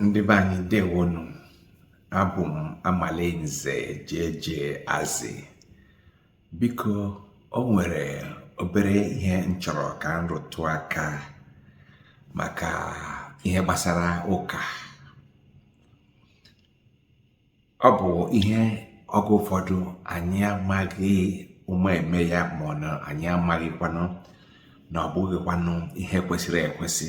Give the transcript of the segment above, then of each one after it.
ndị be anyị ndewonụ abụ m amalinze jeje azị biko o nwere obere ihe m chọrọ ka m rụtụ aka maka ihe gbasara ụka ọ bụ ihe oge ụfọdụ anyị amaghị ụma eme ya ma ọ na anyị amaghịkwanụ na ọ bụghịkwanụ ihe kwesịrị ekwesị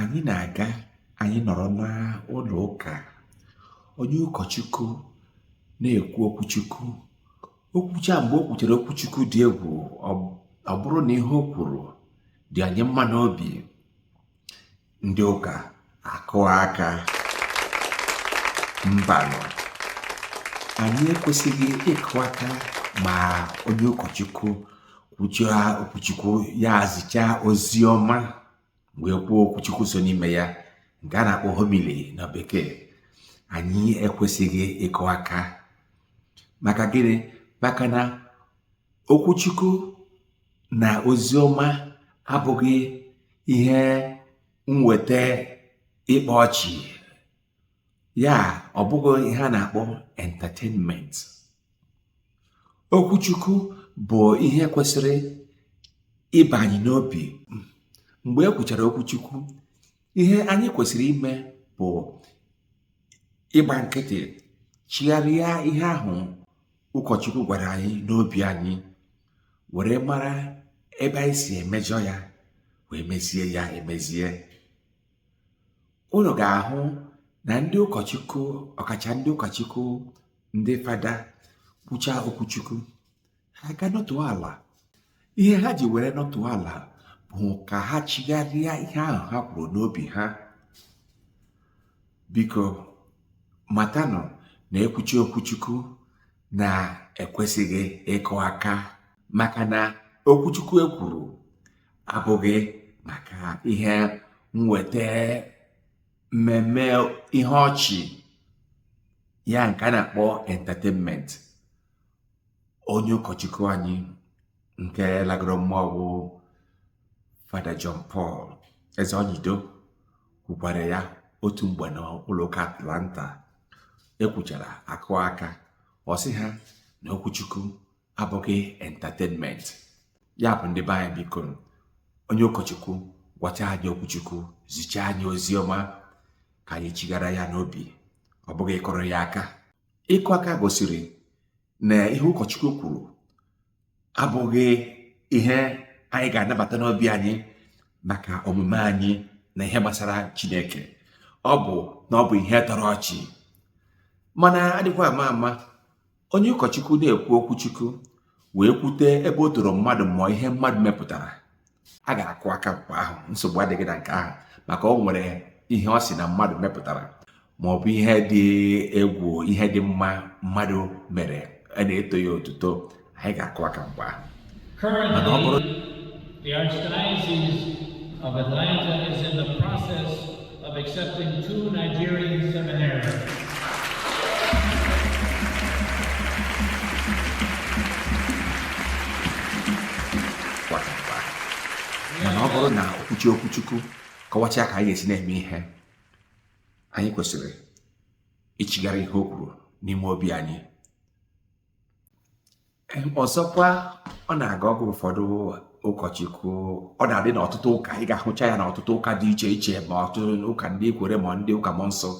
anyị na-aga anyị nọrọ n'ụlọ ụka onye ụkọchukwu na-ekwu okwuchukwu o kwuchaa mgbe o kwuchara okwuchukwu dị egwu ọ bụrụ na ihe o kwuru dị anyị mma n'obi ndị ụka akụa aka mbanụ anyị ekwesịghị ịkụ aka ma onye ụkọchukwu kwuchaa okwuchukwu ya zichaa ozi ọma wee kwuo okwuchukwu so n'ime ya nke a na-akpọ homily na bekee anyị ekwesịghị ịkụ aka maka gịnị maka na okwuchukwu na ozi ọma abụghị ihe mweta ịkpa ọchị ya ọ bụghị ihe a na-akpọ entertainment okwuchukwu bụ ihe kwesịrị ịba anyị n'obi mgbe e kwuchara okwuchukwu ihe anyị kwesịrị ime bụ ịgba nkịtị chigharịa ihe ahụ ụkọchukwu gwara anyị n'obi anyị were mara ebe anyị si emejọ ya wee mezie ya emezie unu ga-ahụ na ndị ụkọchukwu ọkacha ndị ụkọchukwu ndị fada kwucha okwuchukwu ha ga-anọtụ ala ihe ha ji were nọtụ ala bụ ka ha chigharịa ihe ahụ ha kwuru n'obi ha biko matanụ na e kwuchaa okwuchukwu na e kwesịghị ịkụ aka maka na okwuchukwu ekwuru abụghị maka ihe nweta mmemme ihe ọchị ya nke a na-akpọ entertainment onye ụkọchukwu anyị nke lagoro mmụọ bụ Fada John Paul Ezeonyido kwukwara ya otu mgbe n'ụlọ ụka Atlanta ekwuchara akụọ aka ọ sị ha na okwuchukwu abụghị entertainment ya bụ ndị be anyị biko onye ụkọchukwu gwacha anyị okwuchukwu zicha anyị ozi ọma ka anyị chighara ya n'obi ọ bụghị ịkụrụ ya aka ịkụ aka gosiri na ihe ụkọchukwu kwuru abụghị ihe anyị ga-anabata n'obi anyị maka omume anyị na ihe gbasara chineke ọ bụ na ọ bụ ihe tọrọ ọchị mana adịkwa ama ama onye ụkọchukwu na-ekwu okwu chukwu wee kwute ebe o toro mmadụ ma ọ ihe mmadụ mepụtara a ga-akụ aka mgbe ahụ nsogbu adịghị na nke ahụ maka o nwere ihe ọ sị na mmadụ mepụtara ma ọ bụ ihe dị egwu ihe dị mma mmadụ mere a na-eto ya otuto anyị ga-akụ aka mgbe ahụ mana ọ bụrụ The Archdiocese of Atlanta is in the process of accepting two Nigerian seminarians. mana ọ bụrụ na okwuchi okwuchukwu kọwachaa ka anyị ga-esi na-eme ihe anyị kwesịrị ichigharị ihe o kwuru n'ime obi anyị ọzọkwa ọ na-aga oge ụfọdụ ụkọchukwu ọ na-adị n'ọtụtụ ụka ị ga-ahụcha ya n'ọtụtụ ụka dị iche iche ma ọtụtụ ụka ndị kwere ma ndị ụka mmụọ nsọ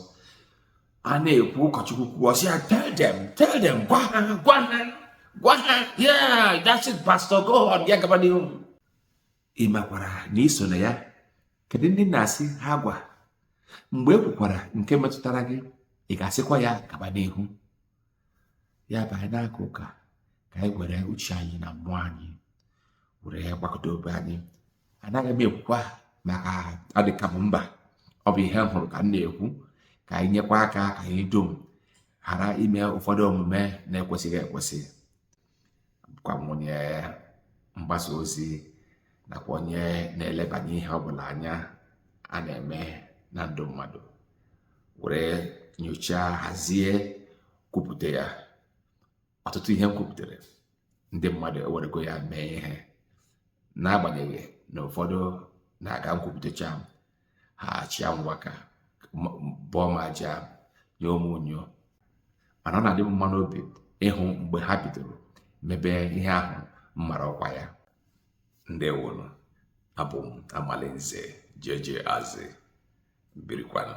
a na-ekwu ụkọchukwu kwuo ọ sị ya tell them tell them gwa ha gwa ha gwa ha yeah that's it pastor go on ya gaba n'ihu ị makwara na i so na ya kedu ndị na-asị ha gwa mgbe e kwukwara nke metụtara gị ị ga-asịkwa ya gaba n'ihu ya bụ anyị na-aka ụka ka anyị were uche anyị na mmụọ anyị were gbakọta obi anyị anaghị m ekwukwa maka adịka m mba ọ bụ ihe m hụrụ ka m na-ekwu ka anyị nyekwa aka ka anyị dum ghara ime ụfọdụ omume na-ekwesịghị ekwesị bụkwa m onye mgbasa ozi nakwa onye na-elebanye ihe ọbụla anya a na-eme na ndụ mmadụ were nyochaa hazie kwupụta ya ọtụtụ ihe m kwupụtara ndị mmadụ ewerego ya mee ihe n'agbanyeghị na ụfọdụ na-aga nkwupụtacha m ha achịa nwaka bọọ m aja nye ụmụnyo mana ọ na-adị m mma n'obi ịhụ mgbe ha bidoro mebe ihe ahụ m mara ọkwa ya ndewonu abụ m amalinze jeje azị birikwanụ